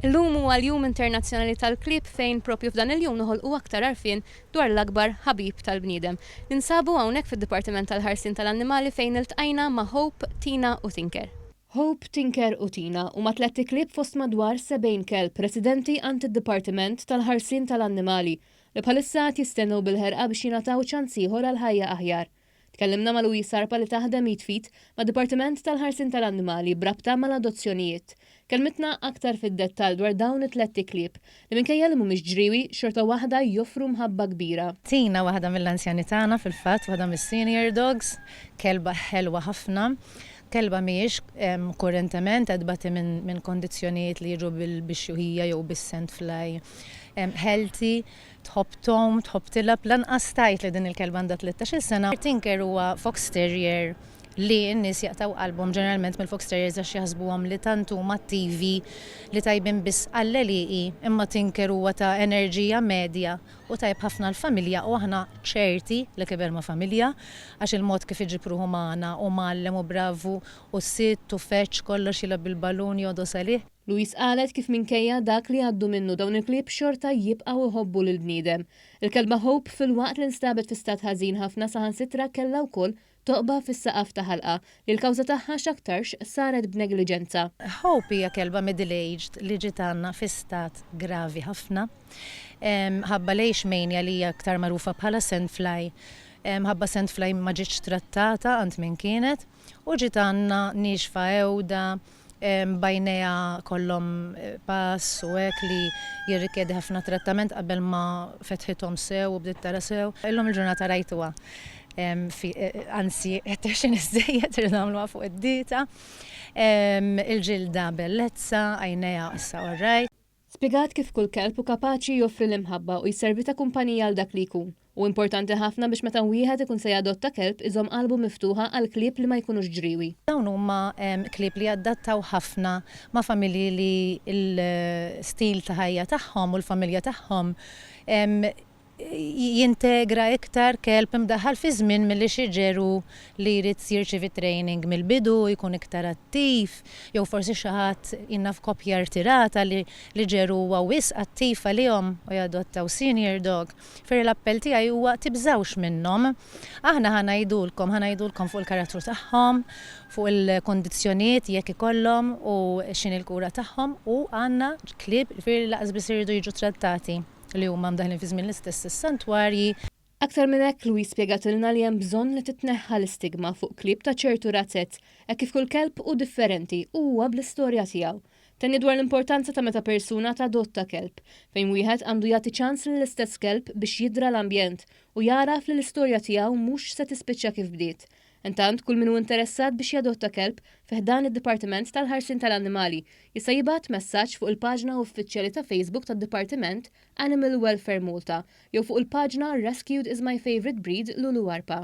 Illum huwa l-Jum Internazzjonali tal-Klieb fejn propju f'dan il-jum noħolqu aktar għarfien dwar l-akbar ħabib tal-bniedem. Ninsabu hawnhekk fid-Dipartiment tal-Ħarsien tal-Annimali fejn iltqajna ma' Hope, Tina u Tinker. Hope, Tinker u Tina huma tlett iklieb fost madwar 70 kelb residenti għand id-Dipartiment tal-Ħarsien tal-Annimali li bħalissa qed jistennew bil-ħerqa biex jingħataw ċans ieħor għal ħajja aħjar. Tkellimna ma' Louise Arpa li taħdem id f'id mad-Dipartiment tal-Ħarsien tal-Annimali b'rabta mal-adozzjonijiet. Kellmitna aktar fid-dettall dwar dawn it-tlett iklieb li minkejja li mhumiex ġriewi, xorta waħda joffru mħabba kbira. Tina, waħda mill-anzjani tagħna fil-fatt, waħda mis-senior dogs, kelba ħelwa ħafna. Kelba mhijiex kurentement qed tbati minn kondizzjonijiet li jiġu bil-bixjuħija jew bis-sand fly. Healthy, Tħobb tgħum, tħobb tilgħab, lanqas tgħid li din il-kelba għandha tlettax-il sena. Tinker huwa fox terrier li n-nies jaqtgħu qalbhom ġeneralment mill-fox terriers għax jaħsbuhom li tant huma attivi li tajbin biss għall-għelieqi imma Tinker huwa ta' enerġija medja u tajjeb ħafna għall-familja u aħna ċerti li kiber ma' familja għax il-mod kif iġib ruħu magħna hu mgħallem u bravu u sitt u feġġ kollox jilgħab bil-balun jogħdos għalih. Louise qalet kif minkejja dak li għaddu minnu dawn il-klieb xorta jibqgħu jħobbu lill-bniedem. Il-kelba Hope filwaqt li nstabet fi stat ħażin ħafna saħansitra kellha wkoll toqba fis-saqaf ta' ħalqha li l-kawża tagħha x'aktarx saret b'negliġenza. Hope hija kelba middle aged li ġiet għandna fi stat gravi ħafna mħabba l-Ace Mania li hija aktar magħrufa bħala Sandfly mħabba Sandfly ma ġietx trattata għand min kienet. U ġiet Anna niexfa għewda, b'għajnejha kollhom pass u hekk li jirrikjedi ħafna trattament qabel ma fetħithom sew u bdiet tara sew. Illum il-ġurnata rajtuha fi, anzi qed tgħexxen iżżejjed, irridu nagħmluha fuq id-dieta. Il-ġilda bellezza, għajnejha issa orrajt. Spjegat kif kull kelb hu kapaċi joffri l-imħabba u jservi ta' kumpanija għal dak li jkun. Hu importanti ħafna biex meta wieħed ikun se jadotta kelb iżomm qalbu miftuħa għal klieb li ma jkunux ġriewi. Dawn huma klieb li jadattaw ħafna ma' familji li l-stil ta' ħajja tagħhom u l-familja tagħhom jintegra iktar kelb imdaħħal fiż-żmien milli xi ġeru li jrid jirċievi training mill-bidu, jkun iktar attiv, jew forsi xi ħadd jien naf koppja rtirata li li ġeru huwa wisq attiv għalihom u jadottaw senior dog. Ferri l-appell tiegħi huwa tibżgħux minnhom. Aħna ħa ngħidulkom, ħa ngħidulkom fuq il-karattru tagħhom, fuq il-kundizzjonijiet jekk ikollhom u x'inhi l-kura tagħhom u għandna klieb ġifieri lanqas biss iridu jiġu trattati. li huma mdaħħlin fi żmien l-istess is-santwarji. Aktar minn hekk, Louise spjegatilna li hemm bżonn li titneħħa l-istigma fuq klieb ta' ċertu razzett hekk kif kull kelb hu differenti u huwa bl-istorja tiegħu. Tenniet dwar l-importanza ta' meta persuna tadotta kelb, fejn wieħed għandu jagħti ċans lill-istess kelb biex jidra l-ambjent u jagħraf li l-istorja tiegħu mhux se tispiċċa kif bdiet, Intant, kull min hu interessat biex jadotta kelb fi ħdan id-Dipartiment tal-Ħarsien tal-Annimali jista' jibgħat messaġġ fuq il-paġna uffiċjali ta' Facebook tad-Dipartiment Animal Welfare Malta jew fuq il-paġna Rescued is my favourite breed Lulu Arpa.